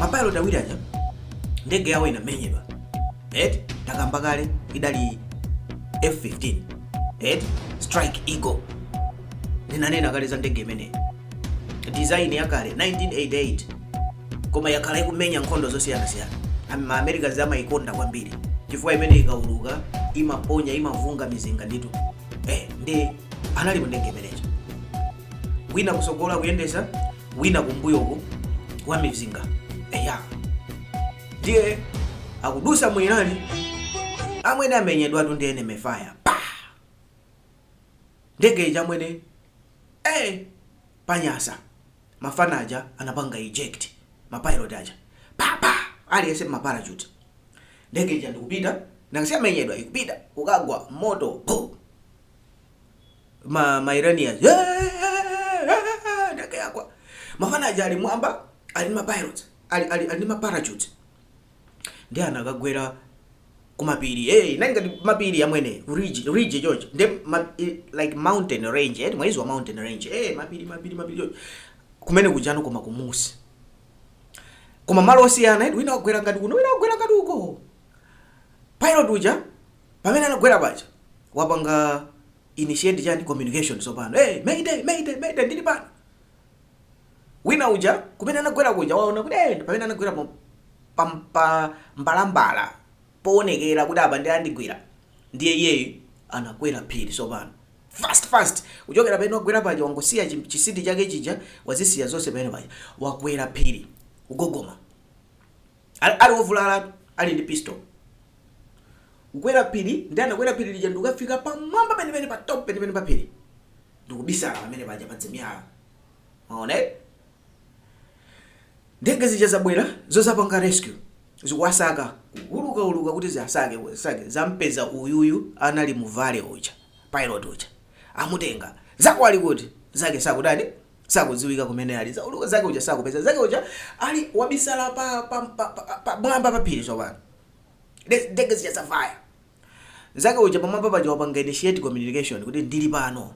mapilot awiri aja ndege yawo inamenyedwa eti takamba kale idali f15 eti strike eagle ndinanena kale za ndege imeneyi design yakale 1988 koma yakhala ikumenya nkhondo zosiyanasiyana Am- ma americans amayikonda kwambiri chifukwa imene ikauluka imaponya imavunga mizinga nditu eh, ndi anali mu ndege imeneyo wina kusogola kuyendesa wina kumbuyoko wa mizinga eya ndiye akudusa mu Iran amwene amenyedwatu ndi enemy fire pa ndege ija amwene eh panyasa mafana aja anapanga eject mapilot aja papa aliyese maparachute ndege ija ndikupita nakasiyamenyedwa ikupita kukagwa moto boom ma ma Iranians "Eh, eh, eh, eh, ndege yagwa mafana aja ali mwamba ali ndi ma pilots ali ali ali ndi ma parachutes ndiye anakagwera kumapiri hey, nali ngati mapiri amwene ridge ridge choncho ndi ma, i- like mountain range eti mwaiziwa mountain range hey, mapiri mapiri mapiri choncho kumene kujano koma kumusi koma malo osiyana eti wina wagwera ngati kuno wina wagwera ngati uko pilot uja Pamene anagwera paja wapanga initiate chani communication tsopano hey, mayday mayday mayday ndili pano wina uja kumene anagwera kuja waona kuti hey, pamene anagwera pa, pa, pa mbalambala poonekera kuti apa ndiye andigwira ndiye iyeyo anakwera phiri tsopano fast fast kuchokera pamene wagwera paja wangosiya chim- chisiti chake chija wazisiya zonse pamene paja wakwera phiri kugogoma Ali ali ovulala ali ndi pistol. Kukwera phiri ndiye anakwera phiri lija ndikukafika pamwamba penipeni pa top penipeni pa phiri. Ndikubisala pamene paja pa dzimiyala. Mwaona eh? Ndege zija zabwera zozapanga rescue zikuwasaka kuuluka uluka kuti ziasake sake zampeza uyuyu anali mu valley uja pilot uja amutenga zako ali kuti zake sakudani sakudziwika kumene ali Za- ulu- zake uja sakupeza zake uja ali wabisala pa pa pa pa- pa- pamwamba pa phiri tsopano De- ndege zija zavaya zake uja pamwamba paja wapanga initiate communication kuti ndili pano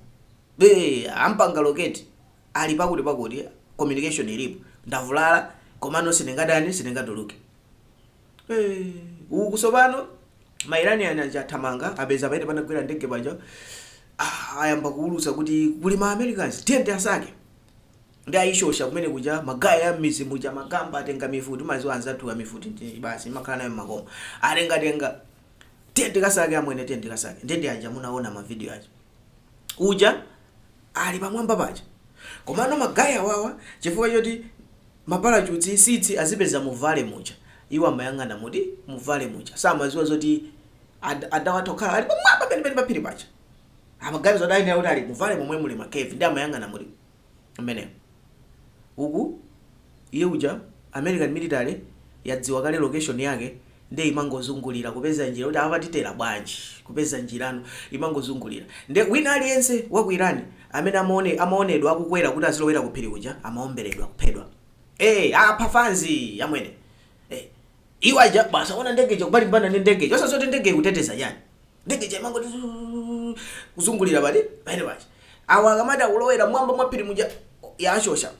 be ampanga locate ali pakuti pakuti communication ilipo ndavulala komano sindingadani sindingatuluke Eh, uku tsopano mairanian aja athamanga apeza pamene panagwera ndege paja ah, ayamba kuulutsa kuti kuli ma americans tiyende kasake ndiye ayishosha kumene kuja magaya ya mmizi muja magamba atenga mifuti maziwa anzathu mifuti ndi basi imakhala nayo mmakomo atengatenga tiyende kasake amwene tiyende kasake nde anja munaona mavidiyo aja uja ali pamwamba paja komano magayi awawa chifukwa choti ma parachutes sitsi azipeza mu vale muja iwo amayang'ana muti mu vale muja samaziwa zoti ad, adawatha kukhala ali pamwamba penipeni pa phiri paja amaganiza kuti adayenera kuti ali mu vale momwe muli ma cave ndi amayang'ana muti mmenemo. Uku, iye uja, American military yadziwa kale location yake nde imangozungulira kupeza njira kuti apa titera bwanji, kupeza njirano imangozungulira. Nde wina aliyense wa ku Iran amene amaone, amaonedwa akukwera kuti azilowera ku phiri kuja amaomberedwa kuphedwa. Eh, apha fanzi amwene. Eh, iwo aja basi aona ndege ija kumalimbana ndi ndege ija osadziwa kuti ndege ikuteteza chani. ndege ija imangoti zuu, kuzungulira pati pali paja awa akamati akulowera mwamba mwa phiri muja yashosha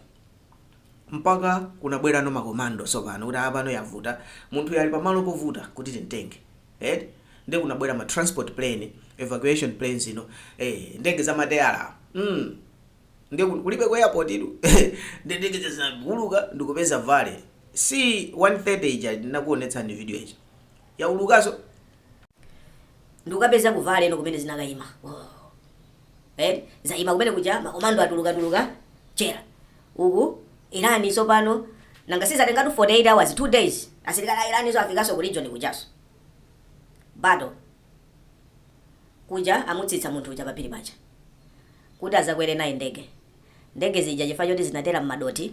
mpaka kunabwerano makomando sopano kuti apano yavuta munthu uyu ali pamalo povuta kuti timtenge eh? nde kunabwera ma transport plane evacuation planes ino eh, ndege za mateyala mm. nde ku- kulibe ku airport-tu nde ndege ija zinauluka ndikupeza vale C 130 ija ndinakuonetsani video ija yaulukaso ndikukapeza ku valley ino kumene zinakaima oh. eh? zaima kumene kuja makomando atuluka tuluka chera uku irani sopano nanga sizatengatu 48 hours 2 days asilikali a Iraniso afikaso ku region kujaso battle kuja amutsitsa munthu uja paphiri paja kuti azakwere naye ndege ndege zija chifukwa choti zinatera mmadothi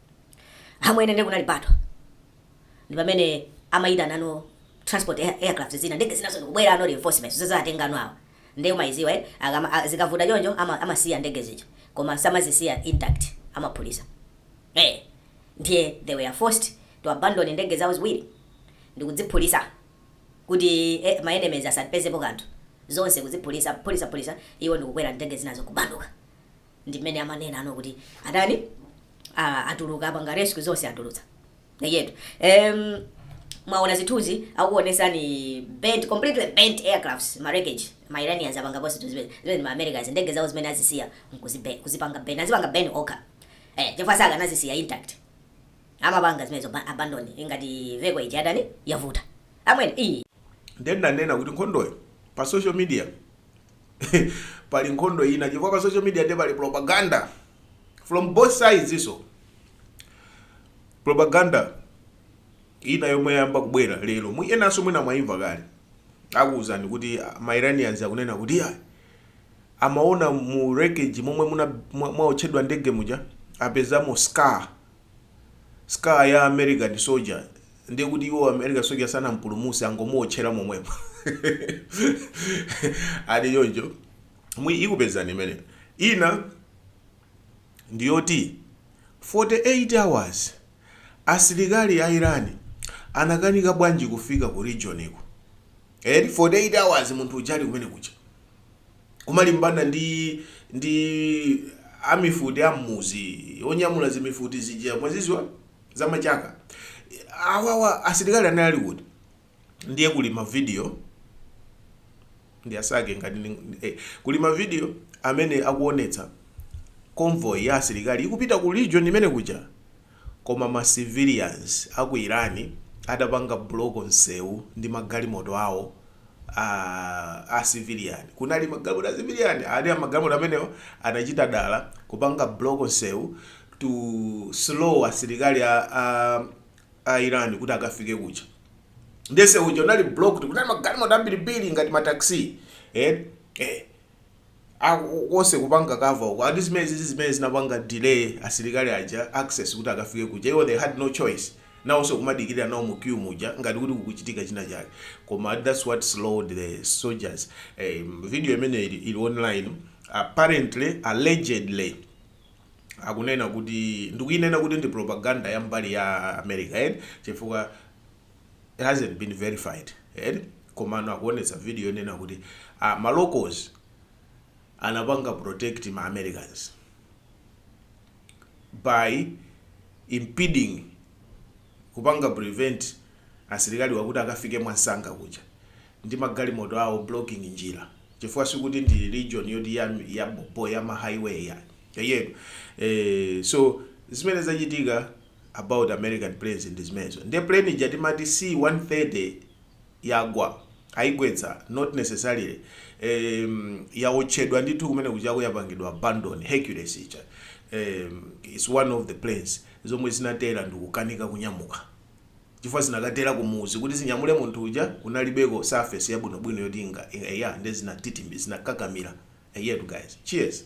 amwene nde kunali battle ndi pamene amayitanano transport air- aircraft zina ndege zinazo ndikubweranano reinforcements zazatenganano awa nde umayiziwa eh? Akama- a- zikavuta choncho ama- amasiya ndege zija koma samazisiya intact amaphulisa eh ndiye they were forced to abandon ndege zawo ziwiri ndikudziphulisa kuti eh, ma enemies asapezepo kanthu zonse kuziphulisa phulisa phulisa iwo ndikukwera ndege zinazo kubanduka ndi mmene amanena ano kuti adani ah, atuluka apanga rescue zonse atulutsa yetu um, mwaona zithunzi akuonesani burnt completely burnt aircrafts ma wreckage ma iranians apanga post zinthu zimene zimene ndi ma americans ndege zawo zimene azisiya nkuzibe- kuzipanga burn azipanga burn okha eh chifukwa sakanazisiya intact amapanga zimenezo ba- abandon ingati vehicle ija adani yavuta amwene iyi ndinanena kuti nkhondoyo pa social media pali nkhondo ina chifukwa pa social media nde pali propaganda from both sides so propaganda ina yomwe yayamba kubwera lero mu enanso mwina mwayimva kale akuwuzani kuti ah, ma iranians akunena kuti ah, amaona mu wreckage momwe muna- mwa- mwaotchedwa ndege muja apezamo skull scar ya American soldier ndiye kuti iwo American soldier sanampulumutse angomuotchera momwemo ati choncho ndiye ikubwerayi imene ina ndiyoti 48 hours asilikali a Iran anakanika bwanji kufika ku region iko eti 48 hours munthu ujali kumene kuja kumalimbana ndi ndi amifuti a mmudzi onyamula zimifuti zija mwazidziwa za machaka awawa asilikali anali ali kuti ndiye kuli ma video ndiye sakhe ngati ndi- ndi- eh, kuli ma video amene akuonetsa convoy ya asilikali ikupita ku region imene kuja koma ma civilians aku Iran adapanga block nsewu ndi magalimoto awo aah a civilian kunali magalimoto a civilian ati magalimoto amenewo anachita dala kupanga block nsewu to slow asilikali a a a Iran kuti akafike kuja ndiye nsewu uja unali blocked kunali magalimoto ambirimbiri ngati ma taxi eti eeh. konse kupanga cover uko ati zimenezi ndi zimene zinapanga delay asilikali aja access kuti akafike kuja iwo they had no choice nawonso kumadikirira nawo mu queue muja ngati kuti kukuchitika china chake koma ati that's what slowed the soldiers eh, video imene ili, ili online apparently allegedly akunena kuti ndikuinena kuti ndi propaganda ya mbali ya America eti chifukwa It hasn't been verified eti komano akuonetsa video yonena kuti ah, ma locals anapanga protect ma Americans by impeding kupanga prevent asilikali wakuti akafike mwamsanga kuja ndi magalimoto awo blocking njira chifukwa sikuti ndi region yoti ya, ya bobo ya ma highway ya yeyero eh, so zimene zachitika about American planes ndi zimenezo nde plane ija timati C130 yagwa ayigwetsa not necessarily em yawotchedwa ndithu kumene kujako yapangidwa abandon Hercules ija em is one of the planes zomwe zinatera ndikukanika kunyamuka chifukwa zinakatera kumudzi kuti zinyamule munthu uja kunalibeko surface yabwinobwino yoti inga eya nde zinatitimira zinakakamira eyetu guys cheers.